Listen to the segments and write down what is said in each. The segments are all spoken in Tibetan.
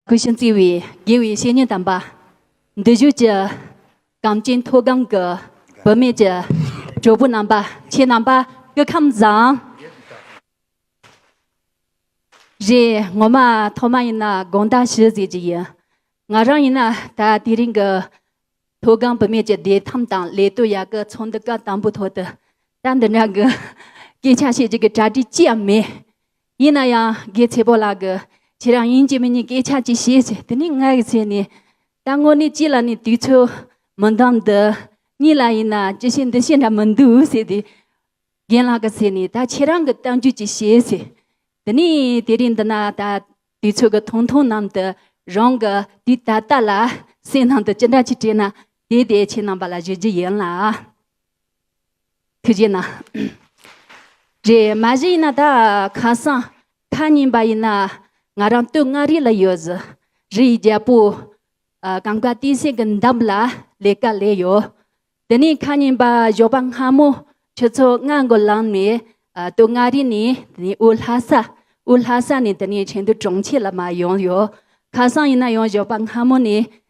གུས་ཤིང་བརྩེ་བའི་དགེ་བའི་བཤེས་གཉེན་དམ་པ། འདི་བཞུགས་ཀྱི་གངས་ཅན་མཐོ་སྒང་གི་བུད་མེད་ཀྱི་གྲོགས་པོ་རྣམ་པ་ཁྱེད་རྣམ་པ་སྐུ་ཁམས་བཟང། རེད་ངོ་མ་ཐོག་མ་ཡིན་ན་དགོངས་དག་ཞུ་ཟེར་གྱི་ཡིན། ང་རང་ཡིན་ན་ད་དེ་རིང་གི་མཐོ་སྒང་བུད་མེད་ཀྱི་བདེ་ཐང་དང་ལས་གཏོད་ཡག་གི་ཚོགས་འདུ་ག་དང་པོའི་ཐོག་ཏུ་ད་འདི་འདྲ་གི་སྐད་ཆ་བཤད་རྒྱུ་གི་གྲ་སྒྲིག་ཅི་ཡང་མེད། ཡིན་ན་ཡང་རྒྱལ་བྱེད་པོ་ལགས་ཀྱིས་ཁྱེད་རང་ཡིན་གཅིག་མིན་གཉིས་སྐད་ཆ་གཅིག་བྱས་ཚེ་དེ་ནི་ང་ཡི་ཚེ་ནི། ད་དངོས་གནས་ཅི་ལ་ནི་དུས་ཚོད་མི་འདང་འདི་གཉིས་ལ་ཡིན་ན་ཅི་བྱེད་འདི་བྱེད་འདྲ་མི་འདུག་ཟེར་དུས། རྒན་ལགས་ཀྱི་ཚེ་ནི་ད་ཁྱེད་རང་གི་གཏམ་རྒྱུད་ཅིག་བྱས་ཚེ། དེ་ནི་དེ་རིང་འདི་ན་ད་དུས་ཚོད་ཀྱི་ཐུང་ཐུང་ནམ་དུ་རང་གི་དུས་ད་ལྟ་ལ་སེམས་ནང་དུ་ཅི་འདྲ་ཆེ་དྲན་ན་དེ་དེ་ཁྱེད་རྣམ་པ་ལ་བརྗོད་རྒྱུ་ཡིན་ལགས། ཐུགས་རྗེ་ན། རེད་མ་གཞི་ཡིན་ན་ད་ཁ་སང་ཐ་སྙད་འབའ་ཡིན་ན་ང་རང་སྟོད་མངའ་རིས་ལ་ཡོད་གཟི་རི་ཡི་རྒྱལ་པོ་གངས་དཀར་བསྟན་སྲིད་ཀྱི་འདམ་ལ་ལས་ཀ་ལས་ཡོད་དེ་ནས་ཁ་སྙན་འབའ་ཞོགས་པ་སྔ་མོ་ཁྱོད་ཚོ་ང་དགོ་ལངས་ནས་སྟོད་མངའ་རིས་ནས་དེ་ནས་དབུས་ལྷ་ས་དབུས་ལྷ་ས་ནས་དེ་ནས་ཆེན་དུ་གྲོང་ཁྱེར་ལ་མ་ཡོང་ཡོད་ཁ་སང་ཡིན་ན་ཡང་ཞོགས་པ་སྔ་མོ་ནས་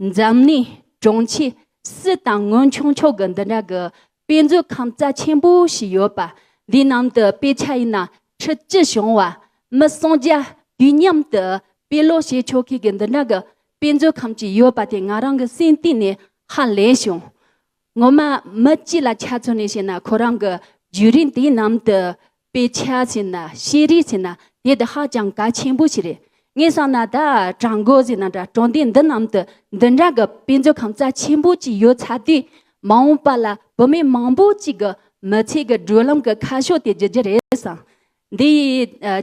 འཛམ་གླིང་གྲོང་ཁྱེར་སུ་དང་སྔོན་བྱུང་ཕྱོགས་ཀྱི་འདི་འདྲ་གི་དཔེ་མཛོད་ཁང་རྩ་ཆེན་པོ་ཞིག་ཡོད་པ་འདིའི་ནང་དུ་དཔེ་ཆ་ཡིན་ན་ཁྲི་བཅུ་བྱུང་བ་མི་སུམ་བརྒྱ་དུས་མཉམ་དུ་དཔེ་ཀློག་བྱེད་ཆོག་མཁན་གྱི་འདི་འདྲ་གི་དཔེ་མཛོད་ཁང་ཅིག་ཡོད་པ་དེ་ང་རང་གི་སེམས་གཏིང་ནས་ཧ་ལས་བྱུང། ངོ་མ་མི་སྤྱི་ལ་ཆ་མཚོན་ནས་བཤད་ན་ཁོ་རང་གི་བརྒྱུད་རིམ་དེའི་ནང་དུ་དཔེ་ཆ་ཟེར་ན་ཤེས་རིག་ཟེར་ན་དེ་དེ་ཧ་ཅང་གལ་ཆེན་པོ་ཞིག་རེད། ངས་བསམ་ན་ད་གྲངས་འགོ་ཟེར་ན་འདྲ་གྲོང་སྡེ་འདི་རྣམས་དུ་འདི་འདྲ་གི་དཔེ་མཛོད་ཁང་རྩ་ཆེན་པོ་གཅིག་ཡོད་ཚར་དུས་མ་འོངས་པ་ལ་བུད་མེད་མང་པོ་གཅིག་གི་མི་ཚེ་གི་བགྲོད་ལམ་གྱི་ཁ་ཕྱོགས་དེ་བརྗེ་རྒྱུ་རེད་བསམ། འདི་ཡི།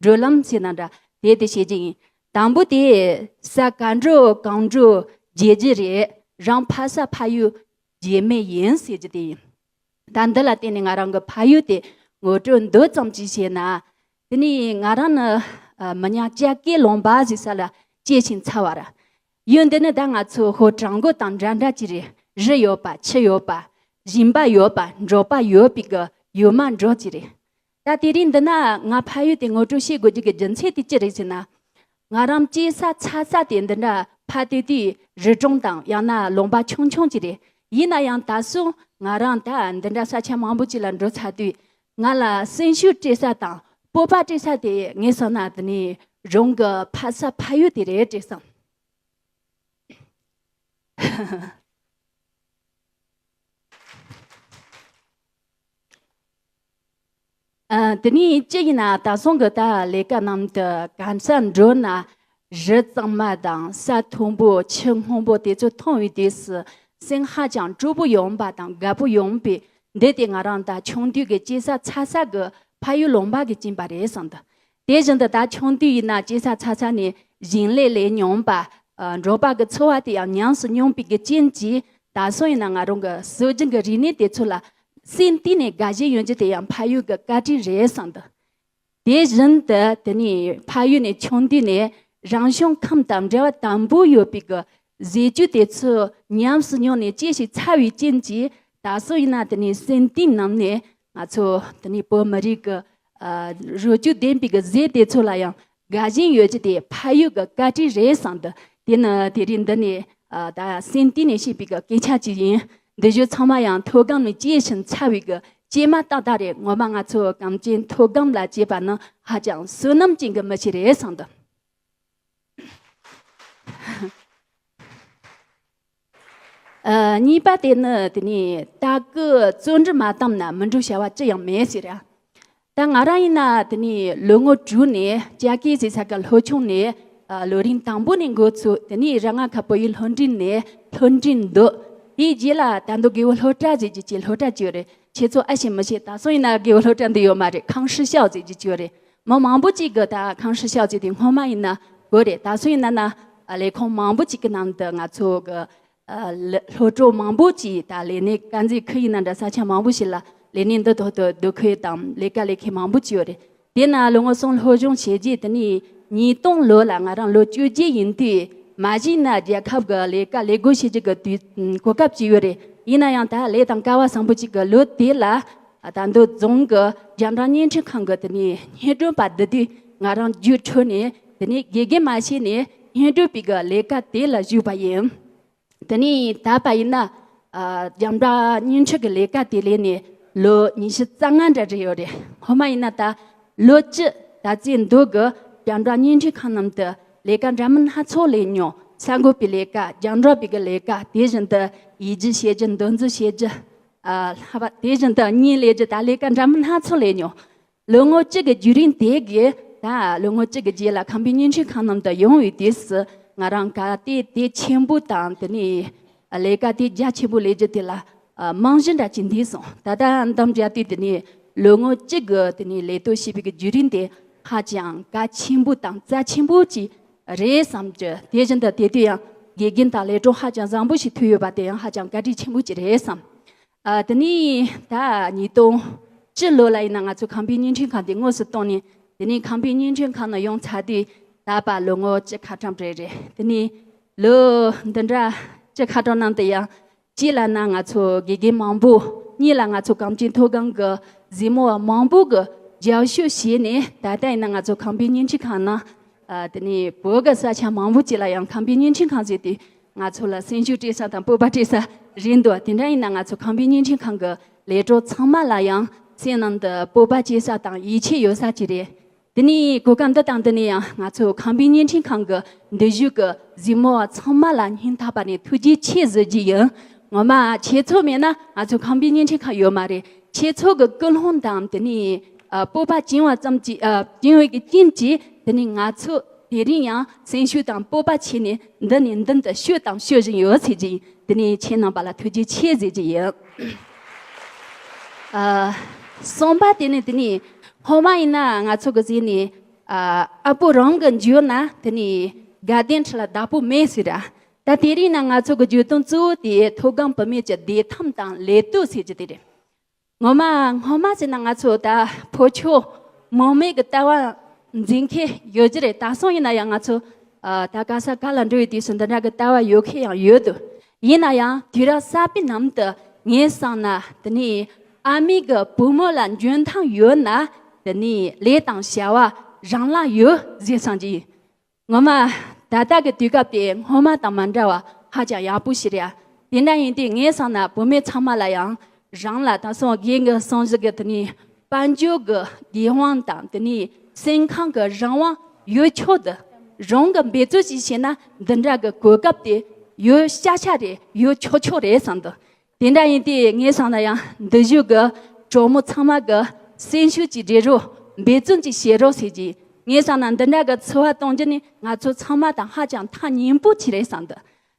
བགྲོད་ལམ་ཞེས་དང་འདྲ་དེ་དེ་བྱེད་རྒྱུ་ཡིན། དང་པོ་དེ་ས་ག་འགྲོ་གང་འགྲོ་རྒྱལ་རྒྱུ་རེད་རང་ཕ་ས་ཕ་ཡུལ་རྒྱལ་མེད་ཡིན་ཟེར་རྒྱུ་དེ་ཡིན། ད་འདི་ལ་བརྟེན་ནས་ང་རང་གི་ཕ་ཡུལ་དེ་ངོ་སྤྲོད་འདི་ཙམ་གྱིས་བྱས་ན། དེ་ནས་ང་རང་ནི་མི་ཉག་ལྕགས་སྐེད་ལུང་པ་ཞེས་ས་ལ་སྐྱེས་ཤིང་འཚར་བ་རེད། ཡུལ་འདི་ནི་ད་ང་ཚོ་ཧོར་བྲག་མགོ་དང་འདྲ་འདྲ་གྱི་རེད་རི་ཡོད་པ་ཆུ་ཡོད་པ། ཞིང་པ་ཡོད་པ་འབྲོག་པ་ཡོད་པའི་གི་ཡུལ་མ་འབྲོག་གི་རེད། ད་དེ་རིང་འདི་ན་ང་ཕ་ཡུལ་དེ་ངོ་སྤྲོད་བྱེད་དགོས་རྒྱུ་གི་རྒྱུ་མཚན་དེ་ཅི་རེད་ཟེར་ན། ང་རང་སྐྱེས་ས་ཚ་ས་དེ་འདི་འདྲ་ཕ་དེ་དུས་རི་གྲོང་དང་ཡང་ན་ལུང་པ་ཆུང་ཆུང་ཅིག་རེད་ཡིན་ན་ཡང་ད་སོང་ང་རང་ད་འདི་འདྲ་ས་ཆ་མང་པོ་ཅིག་ལ་འགྲོ་ཚར་དུས་ང་ལ་སེམས་ཤུགས་སྤྲད་ས་དང་སྤོབས་པ་སྤྲད་ས་དེ་ངས་བསམ་ན་འདི་ནས་རང་གི་ཕ་ས་ཕ་ཡུལ་དེ་རེད་ཅེས་བསམ། དེ་ནས་ཅི་ཡིན་ན་ད་སོང་གི་ད་ལས་ཀ་རྣམས་དུ་གང་ཟག་འགྲོ་ན་རི་གཙང་མ་དང་ས་མཐོན་པོ་ཆུ་སྔོན་པོ་དེ་ཚོ་མཐོང་བའི་དུས་སུ་སེམས་ཧ་ཅང་སྤྲོ་པོ་ཡོང་པ་དང་དགའ་པོ་ཡོང་པས་འདི་དེ་ང་རང་ད་ཆུང་དུས་ཀྱི་སྐྱེས་ས་ཚ་ས་གི་ཕ་ཡུལ་ལུང་པ་གི་བྱིན་པ་རེད་བསམ་དུ་དེ་བཞིན་དུ་ད་ཆུང་དུས་ཡིན་ན་སྐྱེ་ས་ཚ་ཚ་ནས་ཞིང་ལས་ལས་མྱོང་པ། འབྲོག་པ་གི་འཚོ་བ་དེ་ཡང་ཉམས་སུ་མྱོང་པའི་རྐྱེན་གྱིས་ད་སོང་ཡིན་ན་ང་རང་གི་སྲོལ་རྒྱུན་གྱི་རིག་གནས་དེ་ཚོ་ལ་སེམས་གཏིང་ནས་དགའ་ཞེན་ཡོང་རྒྱུ་དེ་ཡང་ཕ་ཡུལ་གྱི་བཀའ་དྲིན་རེད་བསམ་འདུག་དེ་བཞིན་དུ་དེ་ནས་ཕ་ཡུལ་ནས་ཆུང་དུས་ནས་རང་བྱུང་ཁམས་དང་འབྲེལ་བ་དམ་པོ་ཡོད་པའི་གི་ཟས་བཅུད་དེ་ཚོ་ཉམས་སུ་མྱོང་ནས་སྐྱེ་ཞིང་འཚར་བའི་རྐྱེན་གྱིས་ད་སོང་ཡིན་ན་དེ་ནས་སེམས་གཏིང་ནང་ནས་ང་ཚོ་འདི་ནས་བོད་མི་རིགས་ཀྱི་རུས་རྒྱུད་ལྡན་པའི་གཟེར་དེ་ཚོ་ལ་ཡང་དགའ་ཞེན་ཡོད་རྒྱུ་དེ་ཕ་ཡུལ་གྱི་བཀའ་དྲིན་རེད་བསམ་འདུག་དེ་ནི་དེ་རིང་འདི་ནས་ད་སེམས་གཏིང་ནས་བཤད་པའི་སྐད་ཆ་ཅིག་ཡིན། འདི་བཞིན་ཚང་མ་ཡང་མཐོ་སྒང་ནས་སྐྱེས་ཤིང་འཚར་བའི་སྐྱེས་མ་ཏག་ཏག་རེད་ངོ་མ་ང་ཚོ་གངས་ཅན་མཐོ་སྒང་ལ་སྐྱེས་པ་ནི་ཧ་ཅང་བསོད་ནམས་ཅན་གྱི་མི་ཞིག་རེད་བསམ་འདུག། གཉིས་པ་དེ་ནི་དེ་ནས་ད་གུ་བཙོན་འདྲི་མ་བཏང་ན་མི་འགྲུག་བྱ་བ་ཅི་ཡང་མེད་ཟེར། ད་ང་རང་ཡིན་ན་དེ་ནས་ལོ་ངོ་དྲུག་ནས་ལྕགས་སྐྱེས་ཟེར་ས་ག་ལྷོ་ཆུང་ནས་ལོ་རིམ་དང་པོ་ནས་འགོ་ཚུགས་དེ་ནས་ར་ང་ཁ་བོད་ཡིག་ལྷོ་འབྲིང་ནས་ལྷོ་འབྲིང་འདུག་དེའི་རྗེས་ལ་ད་མདོ་དགེ་བོ་ལྷོ་བྲག་ཟེར་གྱི་ཆེ་ལྷོ་བྲག་བཅོས་རེད་ཁྱེད་ཚོ་ཨ་ཤེས་མི་ཤེས་ད་སོང་ཡིན་ན་དགེ་བོ་ལྷོ་བྲག་འདི་ཡོད་མ་རེད་ཁང་ཧྲི་ཤའོ་ཟེར་གྱི་བཅོས་རེད་མི་མང་པོ་གཅིག་གིས་ད་གང་ཧྲི་ཤག་ཅིག་དེ་སྔོན་མ་ཡིན་ན་དགོས་རེད་ད་སུ་ཡིན་ན་ན་ལས་ཁུངས་མང་པོ་གཅིག་གི་ནང་དུ་ང་ཚོ་གི་སློབ་གྲོགས་མང་པོ་གཅིག་ད་ལས་གནས་དཀར་མཛེས་ཁུལ་ཡིན་ན་འདྲ་ས་ཆ་མང་པོ་ཞིག་ལ་ལས་གནས་འདི་ཐོག་ཏུ་སྡོད་ཁུལ་དང་ལས་ཀ་ལས་མཁན་མང་པོ་གཅིག་ཡོད་རེད་དེ་ན་ལོ་ངོ་གསུམ་སློབ་སྦྱོང་བྱས་རྗེས་དེ་ནས་ཉིས་སྟོང་ལོ་ལ་ང་རང་ལོ་བཅུ་བརྒྱད་ཡིན་དུས་མ་གཞི་ན་རྒྱལ་ཁབ་གི་ལས་ཀ་ལས་དགོས་བྱེད་ཅིག་གི་དུས་གོ་སྐབས་གཅིག་ཡོད་རེད་ཡིན་ན་ཡང་ད་ལས་དང་སྐལ་བ་བཟང་པོ་གཅིག་གི་ལོ་དེ་ལ་ད་འདོད་རྫོང་གི་རྒྱ་འབྲང་བརྙན་འཕྲིན་ཁང་གི་དེ་ནས་བརྙན་སྒྲོན་པ་འདི་དུས་ང་རང་རྒྱུགས་འཕྲོད་ནས་དེ་ནས་དགེ་རྒན་མ་བྱས་ནས་བརྙན་སྒྲོན་པའི་གི་ལས་ཀ་དེ་ལ་ཞུགས་པ་ཡིན། དེ་ནས་ད་བར་ཡིན་ན་རྒྱ་འབྲང་བརྙན་འཕྲིན་གི་ལས་ཀ་དེ་ལས་ནས་ལོ་ཉི་ཤུ་རྩ་ལྔ་འདྲ་རེད་ཡོད་རེད་ཧོ་མ་ཡིན་ན་ད་ལོ་སྤྱི་ད་ཙའི་འདོད་གི་རྒྱ་འབྲང་བརྙན་འཕྲིན་ཁང་རྣམས་དུ་ལས་ཀ་འདྲ་མིན་སྣ་ཚོགས་ལས་མྱོང་གསར་འགོད་པའི་ལས་ཀ་རྒྱང་སྒྲོག་པའི་གི་ལས་ཀ་དེ་བཞིན་དུ་ཡིད་རྒྱུ་བྱེད་རྒྱུ་འདོན་རྩིས་བྱེད་རྒྱུ་ལྷག་པ་དེ་བཞིན་དུ་གཉིས་ལས་ཀྱི་ད་ལས་ཀ་འདྲ་མིན་སྣ་ཚོགས་ལས་མྱོང། ལོ་ངོ་གཅིག་གི་རྒྱུད་རིང་དེ་གའི་ད་ལོ་ངོ་གཅིག་གི་རྗེས་ལ་ཁམས་པའི་གཉེན་ཆོས་ཁང་རྣམས་དུ་ཡོང་བའི་དུས་སུ་ང་རང་ག་སྟེ་དེ་ཆེན་པོ་དང་དེ་ནས་ལས་ཀ་དེ་རྒྱ་ཆེན་པོ་ལས་རྒྱུ་དེ་ལ་རྨང་གཞི་འདྲ་བྱེད་འདོད་སོང་ད་ལྟ་འདམ་རྒྱག་དུས་དེ་ནས་ལོ་ངོ་གཅིག་གི་དེ་ནས་ལས་གཏོད་བྱེད་པའི་རྒྱུད་རིང་དེ་ཧ་ཅང་ག་ཆེན་པོ་དང་རྩ་ཆེན་པོ་ཅིག་རེད་བསམ་གྱི་དེ་བཞིན་དུ་དེ་དུས་ཡང་དགེ་རྒན་དང་ལས་གྲོགས་ཧ་ཅང་བཟང་པོ་ཞིག་ཐོན་ཡོད་པ་དེ་ཡང་ཧ་ཅང་བཀའ་དྲིན་ཆེན་པོ་ཅིག་རེད་བསམ། དེ་ནས་ད་ཉིས་སྟོང་བཅུ་ལོ་ལ་ཡིན་ན་ང་ཚོ་ཁང་པའི་བརྙན་འཕྲིན་ཁང་དེ་དངོས་སུ་བཏང་ནས་དེ་ནས་ཁང་པའི་བརྙན་འཕྲིན་ཁང་ནང་ཡོང་ཚར་དུས་ད་བར་ལོ་ངོ་བཅུ་ཁ་གྲངས་རེད་རེད་དེ་ནས་ལོ་འདི་འདྲ་བཅུ་ཁ་གྲངས་ནང་དུ་ཡང་གཅིག་ལ་ན་ང་ཚོ་དགེ་རྒན་མང་པོ་གཉིས་ལ་ང་ཚོ་གངས་སྐྱིད་མཐོ་སྒང་གི་གཟིགས་མོ་བ་མང་པོ་གི་རྒྱབ་ཤོད་བྱས་ནས་ད་ལྟ་ཡིན་ན་ང་ཚོ་ཁང་པའི་བརྙན་འཕྲིན་ཁང་ནང་དེ་ནས་བོད་གི་ས་ཆ་མང་པོ་ཅིག་ལ་ཡང་ཁང་པའི་བརྙན་འཕྲིན་ཁང་བཟོས་ཏེ་ང་ཚོ་ལ་སེམས་ཤུགས་སྤྲད་ས་དང་སྤོབས་པ་སྤྲད་ས་རེད་འདུག་དེ་འདྲ་ཡིན་ན་ང་ཚོ་ཁང་པའི་བརྙན་འཕྲིན་ཁང་གི་ལས་གྲོགས་ཚང་མ་ལ་ཡང་སེམས་ནང་དུ་སྤོབས་པ་སྐྱེས་ས་དང་ཡིད་ཆེས་ཡོད་ས་ཅིག་རེད་དེ་ནས་གོ་སྐབས་འདི་དང་འདི་ནས་ཡང་ང་ཚོས་ཁང་པའི་བརྙན་འཕྲིན་ཁང་གི་འདུས་བཞུགས་ཀྱི་གཟིགས་མོ་བ་ཚང་མ་ལ་སྙིང་ཐག་པ་ནས་ཐུགས་རྗེ་ཆེ་གཟོད་རྒྱུ་ཡིན། ངོ་མ་ཁྱེད་ཚོ་མེད་ན་ང་ཚོའི་ཁང་པའི་བརྙན་འཕྲིན་ཁང་ཡོད་མ་རེད། ཁྱེད་ཚོ་གི་སྐུལ་སློང་དང་དེ་ནས་སྤོབས་པ་བྱིན་བ་ཙམ་གྱིས་བྱིན་འོད་ཀྱི་རྐྱེན་གྱིས་དེ་ནས་ང་ཚོ་དེ་རིང་ཡང་སེམས་ཤུགས་དང་སྤོབས་པ་ཆེ་ནས་འདི་ནས་མདུན་དུ་བཤོས་དང་བཤོས་བཞིན་ཡོད་ཟེར་གྱི་ཡིན་དེ་ནས་ཁྱེད་རྣམས་པ་ལ་ཐུགས་རྗེ་ཆེ་གཟོད་རྒྱུ་ཡིན། གསུངས་པ་དེ་ནི་དེ་ནི་ཧོ་མ་ཡིན་ན་ང་ཚོ་གི་གཟིགས་ནས་ཨ་པོ་རང་གི་འཇུས་ན་དེ་ནི་དགའ་ལྡན་ཁྲི་ལ་བདག་པོ་མེད་ཟེར་ར་ད་དེ་རིང་ན་ང་ཚོ་གི་འཇུས་དོན་གཙོ་བོ་དེ་མཐོ་སྒང་བུད་མེད་ཀྱི་བདེ་ཐང་དང་ལས་གཏོད་ཟེར་གྱི་དེ་རེད་ངོ་མ་སྔོན་མ་ཟེར་ན་ང་ཚོ་ད་ཕོ་ཁྱོ་མོ་མེད་གི་ལྟ་བ་འཛིན་མཁན་ཡོད་ཀྱི་རེད་ད་སང་ཡིན་ན་ཡང་ང་ཚོ་ད་ག་ས་ག་ལ་འགྲོ་ཡི་དུས་སུ་འདི་འདྲ་གི་ལྟ་བ་ཡོད་མཁན་ཡང་ཡོད་དུ་ཡིན་ན་ཡང་དུས་རབས་གསར་པའི་ནང་དུ་ངའི་བསམ་ན་འདི་ནི་ཨ་མེས་ཀྱི་བུ་མོ་ལ་འཇོན་ཐང་ཡོད་ན་དེ་ནི་ལས་དང་བྱ་བ་རང་ལ་ཡོད་ཟེར་བསམ་གྱི་ཡོད། ངོ་མ་ད་ལྟ་གི་དུས་སྐབས་དེ་སྔོན་མ་དང་མ་འདྲ་བར་ཧ་ཅང་ཡག་པོ་ཞིག་རེད། དེ་འདྲ་ཡིན་དུས་ངའི་བསམ་ན་བུ་མོ་ཚང་མ་ལ་ཡང་རང་ལ་དེང་སང་དགེ་འདུན་སོང་གཞི་གི་དེ་ནས་དཔལ་འབྱོར་གྱི་དགེ་དབང་དང་དེ་ནས་སེམས་ཁམས་ཀྱི་རང་དབང་ཡོད་ཆོག་དེ་རང་གི་འབད་རྩོལ་ཞིག་བྱས་ན་འདི་འདྲ་གི་གོ་སྐབས་དེ་ཡོད་ཤག་ཤག་རེད་ཡོད་ཆོག་ཆོག་རེད་བསམ་འདུག་དེ་འདྲ་ཡིན་དུས་ངས་བསམ་ན་ཡང་འདི་བཞུགས་ཀྱི་གྲོགས་མོ་ཚང་མ་གི་སེམས་ཤུགས་ཅིག་སྒྲིལ་རོགས་འབད་བརྩོན་ཅིག་བྱེད་རོགས་ཟེར་གྱི་ངས་བསམ་ན་འདི་འདྲ་གི་འཚོ་བ་གཏོང་རྒྱུ་ནི་ང་ཚོ་ཚང་མ་དང་ཧ་ཅང་ཐག་ཉེ་པོ་ཆེ་རེད་བསམ་འདུག་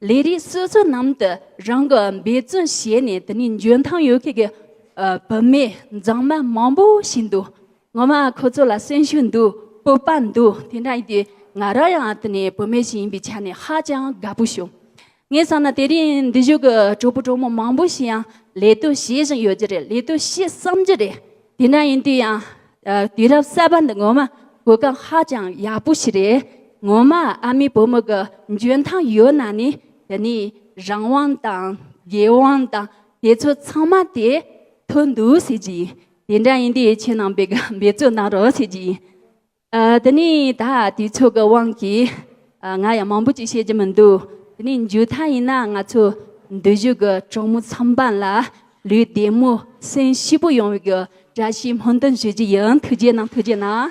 ལས་རིགས་སོ་སོ་ནང་དུ་རང་གི་འབད་བརྩོན་བྱས་ནས་དེ་ནས་འཇོན་ཐང་ཡོད་མཁན་གྱི་བུད་མེད་མཛངས་མ་མང་པོ་ཞིག་འདུག་ངོ་མ་ཁོ་ཚོ་ལ་གསོན་ཤུགས་འདུག་སྤོབས་པ་འདུག་དེ་འདྲ་ཡིན་དུས་ང་རང་ཡང་དེ་ནས་བུད་མེད་ཞིག་ཡིན་པའི་ཆ་ནས་ཧ་ཅང་དགའ་པོ་བྱུང། ངས་བསམ་ན་དེ་རིང་འདི་བཞུགས་ཀྱི་གྲོགས་པོ་གྲོགས་མོ་མང་པོ་ཞིག་ཡང་ལས་དོན་བྱེད་བཞིན་ཡོད་ཀྱི་རེད་ལས་དོན་བྱེད་བསམ་གྱི་རེད། དེ་འདྲ་ཡིན་དུས་ཡང་དུས་རབས་གསར་པ་འདི་ངོ་མ་གོ་སྐབས་ཧ་ཅང་ཡག་པོ་ཞིག་རེད། ངོ་མ་ཨ་མའི་བུ་མོ་གི་འཇོན་ཐང་ཡོད་ན་ནི་དེ་ནས་རང་དབང་དང་རྒྱལ་དབང་དང་དེ་ཚོ་ཚང་མ་དེ་ཐོན་འདུག་ཟེར་གྱི་ཡིན། དེ་འདྲ་ཡིན་དུས་ཁྱེད་རྣམས་པས་འབད་བརྩོན་གནང་རོགས་ཟེར་གྱི་ཡིན། དེ་ནས་ད་དུས་ཚོད་ཀྱི་དབང་གིས་ང་ཡང་མང་པོ་ཅིག་བཤད་རྒྱུ་མི་འདུག་དེ་ནས་མཇུག་མཐའ་ཡིན་ན་ང་ཚོ་འདོད་གཞུག་གི་གྲོགས་མོ་ཚང་པ་ལ་ལུས་བདེ་མོ་སེམས་ཤི་པོ་ཡོང་བའི་བཀྲ་ཤིས་སྨོན་འདུན་ཞུ་རྒྱུ་ཡིན་ཐུགས་རྗེ་གནང་ཐུགས་རྗེ་གནང།